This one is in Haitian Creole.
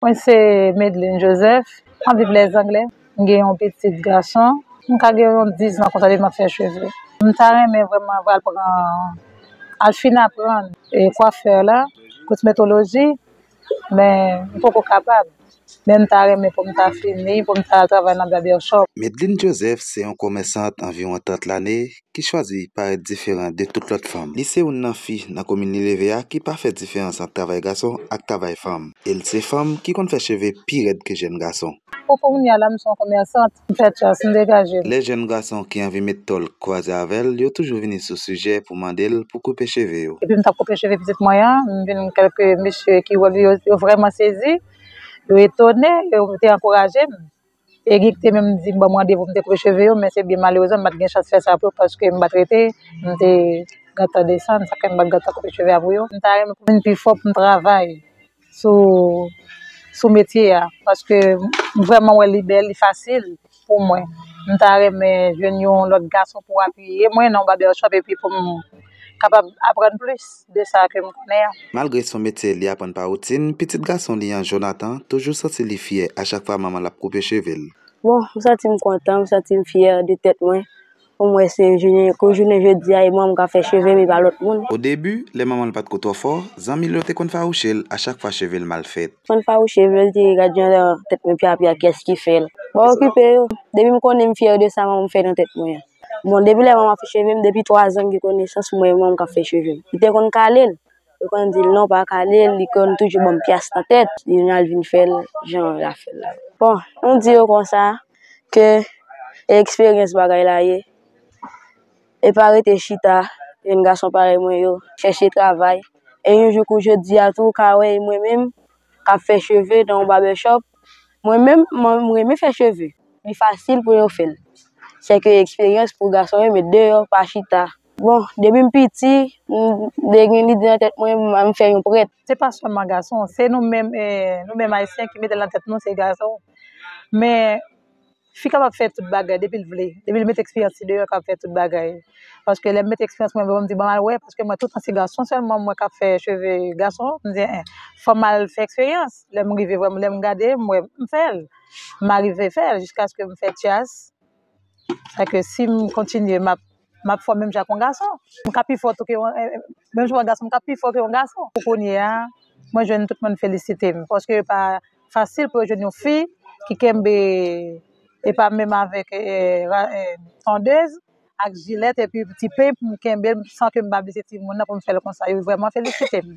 Mwen se Medline Joseph, mwen viv les anglè, mwen gen yon pitit gason, mwen ka gen yon 10 zan konsa depi map fè cheve. Mwen ta renmen vreman mwen al pran, al fin aprann kwafè la, kosmetoloji, men mwen poko kapab, men mwen ta renmen pou mwen ta fini, pou mwen ta travay nan barber shop. Medline Joseph se yon komèsant anviwon 30 lane ki chwazi parèt diferan de tout lòt fanm. Li se youn nan fi nan komin li leve a ki pa fè diferans ant travay gason ak travay fanm. E l se fanm ki konn fè cheve pi rèd ke jèn gason. Pou kounya la m se yon komèsant, m fè tras, m degaje m. Lè jèn gason ki anvi met tòl kwaze avè l, yo toujou vini sou sijè pou mande l pou koupe cheve yo. Depi m t ap koupe cheve pitit mwen an, m vin gen kèlke mesye ki wè m, yo vrèman sezi, yo etone, yo te ankouraje m. Erick te menm di m ban m randevou pou m te koupe cheve yo men se byen malerezman m pa t gen chans fè sa pou yo paske m pa t rete, m te gentan desann sa fè m pa t gentan koupe cheve a pou yo. M ta renmen pou m vin pi fò pou m travay sou metye a paske m vrèman wè li bèl, li fasil pou mwen. M ta renmen jwenn yon lòt gason pou apiye mwen nan yon babèchòp epi pou m. kapab aprann plis de sa ke m konnen an. Malgre son metye li aprann pa woutin, pitit gason li an, Jonathan, toujou santi li fyè a chak fwa manman l ap koupe cheve l. Bon, m santi m kontan, m santi m fyè de tèt mwen pou m wè se jounen kou jounen jodi a e manman m k ap fè cheve m e pa lòt moun. Odebi, lè manman l pa t ko twò fò, zanmi l yo te konn fawouche l a chak fwa cheve l mal fèt. L konn fawouche m, lè l di, Gad jan tèt mwen pyapya, kiyès ki fè l? Bon, okipe yo. Depi m konnen m fyè de sa manman m fè nan tèt mwen an. Bon depi lè mwen ap fè cheve m, depi 3 zan m gen konesans mwen e manman m k ap fè cheve m. Li te konn kale l, yo konn di l non pa kale l, li konn toujou ban m pyas nan tèt, li vin al vin fè l jan l ap fè l la. Bon, nou di yo konsa ke e eksperyans bagay la ye, e pa rete chita, jenn gason parèy mwen yo, chèche travay, e yon jou kou jodi a tou ou ka wè e mwen menm kap fè cheve nan yon barbèchòp, mwen menm m renmen fè cheve, li fasil pou yo fèl, sèke eksperyans pou gason yo met deyò pa chita. Bon, depi m piti, m te gen lide nan tèt mwen pou m fè yon prèt. Se pa sèlman gason, se nou menm, nou menm ayisyen ki metel nan tèt nou se gason, men Fi kapab fè tout bagay depi l vle, depi l met eksperyans li deyò l kapab fè tout bagay. Paske lè m met eksperyans mwen deyò m di banm al wè paske mwen toutan se gason sèlman m wè k ap fè cheve gason m di en fò m al fè eksperyans lè m rive vwè m lè m gade m wè m fè l m arive fè l jiskaske m fè tyas sa ke si m kontinye m ap m ap fò menm jan ak yon gason m ka pi fò tou ke yon menm jan yon gason m ka pi fò ke yon gason pou kounye a mwen jwenn tout moun felisite m paske yo pa Fasil pou yo jwenn yon fi ki kenbe epa menm avèk tondez ak jilèt epi ti peny pou m kenbe l san ke m pa blese timoun nan pou m fè l konsa yo vrèman felisite m.